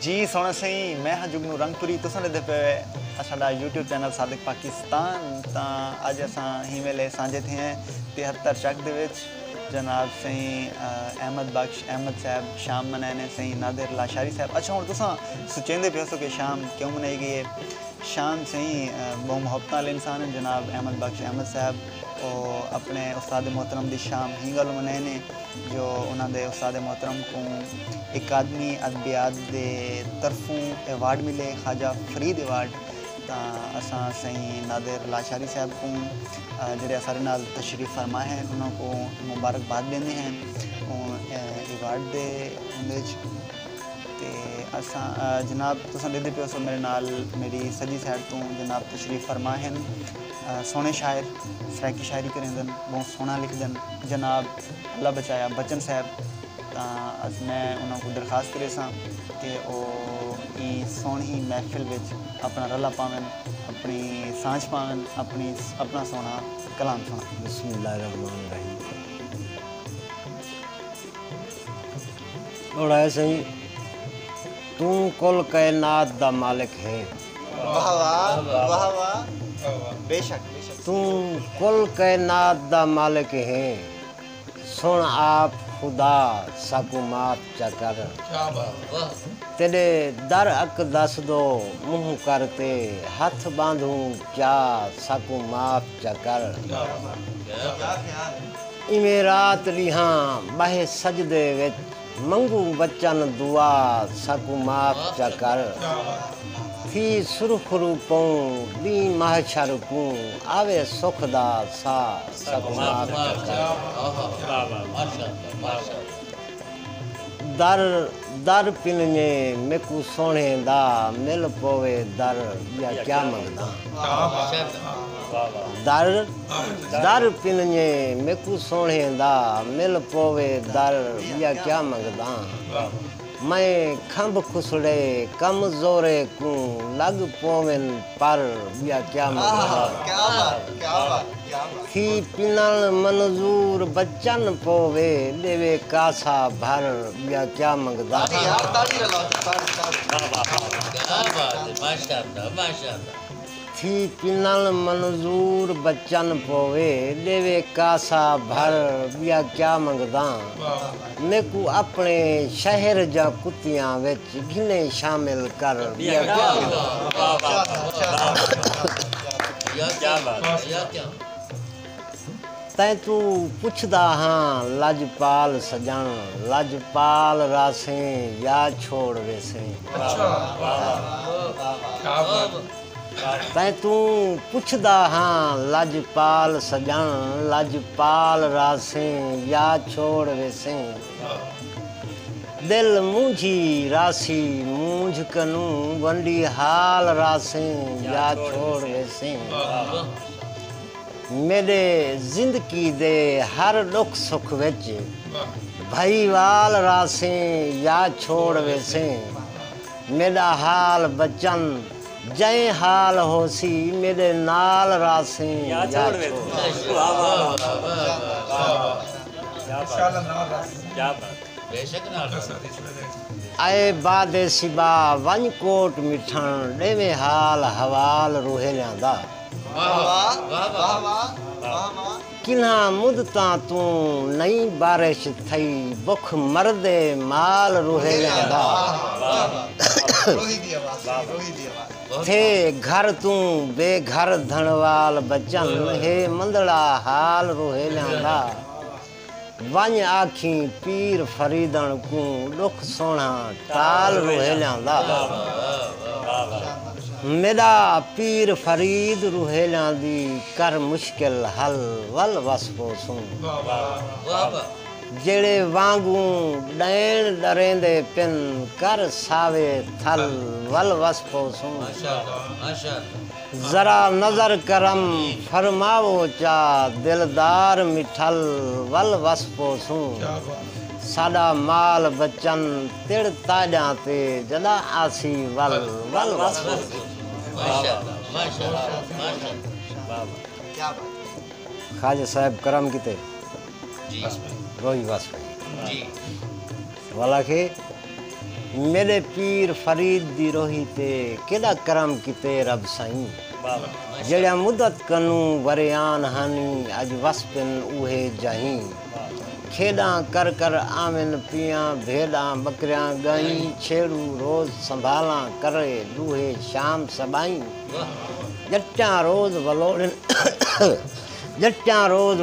جی سونا سئیں میں ہاں جگنو رنگ پوری تساں ڈیدھے پئے ہوئے اساڈا یوٹیوب چینل صادق پاکستان تاں اج اساں ہی ویلے سانجھے تھے ہیں تہتر چک دے وچ جناب سئیں احمد بخش احمد صاحب شام منائے نے سئیں نادر لاشاری صاحب اچھا ہن تساں سوچیندے پئے ہوسو کہ شام کیوں منائی گئی ہے شام سئیں بہوں محبتاں والے انسان ہیں جناب احمد بخش احمد صاحب او اپنے استاد محترم دی شام ہی گالوں منائے نے۔ جو انہاں دے استاد محترم کوں اکادمی ادبیات دے طرفوں ایوارڈ ملے خواجہ فرید ایوارڈ تاں اساں سئیں نادر لاشاری صاحب کوں جیہڑے اساڈے نال تشریف فرما ہن انہاں کوں مبارک باد ڈیندے ہیں ایوارڈ دے اوندے اچ تے اساں جناب تساں ڈیکھدے پیو سو میڈے نال میڈی سجی سائیڈ توں جناب تشریف فرما ہن۔ سوہنے شاعر سرائیکی شاعری کریندن بہوں سوہنا لکھدن جناب اللہ بچایا بچن صاحب تاں اج میں انہاں کوں درخواست کریساں کہ او ایں سوہنی محفل وچ اپنا رلا پاون اپنی سانجھ پاون اپنی اپنا سوہنا کلام سنڑن۔ بسم اللہ الرحمن الرحیم ݙوڑایا سئیں۔ توں کل کائنات دا مالک ہیں۔ واہ واہ واہ واہ بے شک بے شک۔ توں کل کائنات دا مالک ہیں۔ سن آپ خدا ساکوں معاف چا کر۔ کیا بات واہ۔ تیڈے در اک دس دو منہ کر تے ہتھ باندھوں کیا ساکوں معاف چا کر۔ کیا بات کیا خیال ہے۔ ایویں رات ڈیہاں بہہ سجدے وچ۔ منگوں وچن دعا ساکوں معاف چا کر تھی سرخرو پوں ڈینہہ محشر کوں آوے سکھ دا سا ساکوں معاف چا کر در در پنجے میکوں سوہنے دا مل پووے در ڈیا کیا منگداں۔ در در پنجے میکوں سوہݨے دا مل پووے در ٻیا کیا منگداں میں کھمب کھسڑے کم زورے کوں لڳ پوون پر ٻیا کیا منگداں تھی پنݨ منظور بچن پووے ݙیوے کاسا بھر ٻیا کیا منگداں۔ تھی کنل منظور بچن پووے ݙیوے کاسا بھر ٻیا کیا منگداں میکوں اپݨے شہر جاں کتیاں وچ گھنے شامل کر ٻیا کیا منگداں۔ تیں توں پچھدا ہاں لجپال سجݨ لجپال رہسیں یا چھوڑ ویسیں۔ تیں توں پچھدا ہاں لجپال سجݨ لجپال رہسیں یا چھوڑ ویسیں۔ دل مونجھی رہسی مونجھ کنوں ونڈی حال رہسیں یا چھوڑ ویسیں۔ میݙے زندگی دے ہر ݙکھ سکھ وچ بھائی وال راہسیں یا چھوڑ ویسیں میݙا حال بچن جئیں حال ہوسی میݙے نال راہسیں یا چھوڑ اے باد صبا ونڄ کوٹ مٹھݨ ݙیویں حال حوال روہیلیاں دا۔ کنھاں مدتاں توں نئیں بارش تھئی بکھ مردے مال روہیلیاں دا تھے گھر توں بے گھر دھنوال بچن ہے مندڑا حال روہیلیاں دا ونڄ آکھیں پیر فریدݨ کوں ݙکھ سوہݨا ٹال روہیلیاں دا میݙا پیر فرید روہیلیاں دی کر مشکل حل ول وس پوسوں جیڑھے وانگوں ݙئین ݙریندے پن کر ساوے تھل ول وس پوسوں۔ ذرا نظر کرم فرماؤ چا دلدار مٹھل ول وس پوسوں ساڈا مال بچن تڑ تاجاں تے جدا آسی ول ول وس خواجہ صاحب کرم کیتے روئی وس پئی۔ والا کھے میݙے پیر فرید دی روہی تے کیݙا کرم کیتے رب سائیں جیڑھیاں مدت کنوں وریان ہن اڄ وس پن اوہے جاہیں کھیݙاں کر کر آون پیاں بھیݙاں ٻکریاں ڳائیں چھیڑوں روز سنبھالاں کرے ݙوہے شام سٻائیں ڄٹاں روز ولوڑن جٹاں روز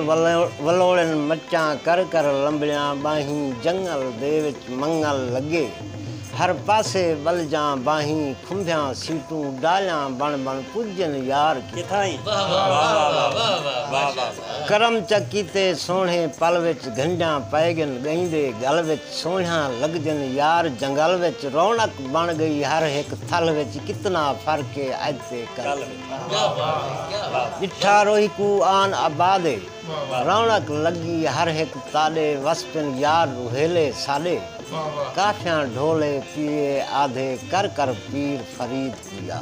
ولوڑن مچاں کر کر لمبیاں ٻانہیں جنگل دے وچ منگل لڳے ہر پاسے ٻلجاں ٻانہیں کھمبھیاں سیٹوں ڈالیاں بݨ بݨ پڄن یار کتھائیں کرم چا کیتے سوہݨے پل وچ گھنڈیاں پئے ڳن ڳئیں دے ڳل وچ سوہݨیاں لڳجن یار جنگل وچ رونق بݨ ڳئی ہر ہک تھل وچ کتنا فرق اے اڄ تے کل وچ۔ ڈٹھا روہی کوں آن آبادے رونق لگی ہر ہک تاڈے وسپن یار روہیلے ساڈے کافیاں ڈھولے پیئے آدھے کر کر پیر فرید پیا۔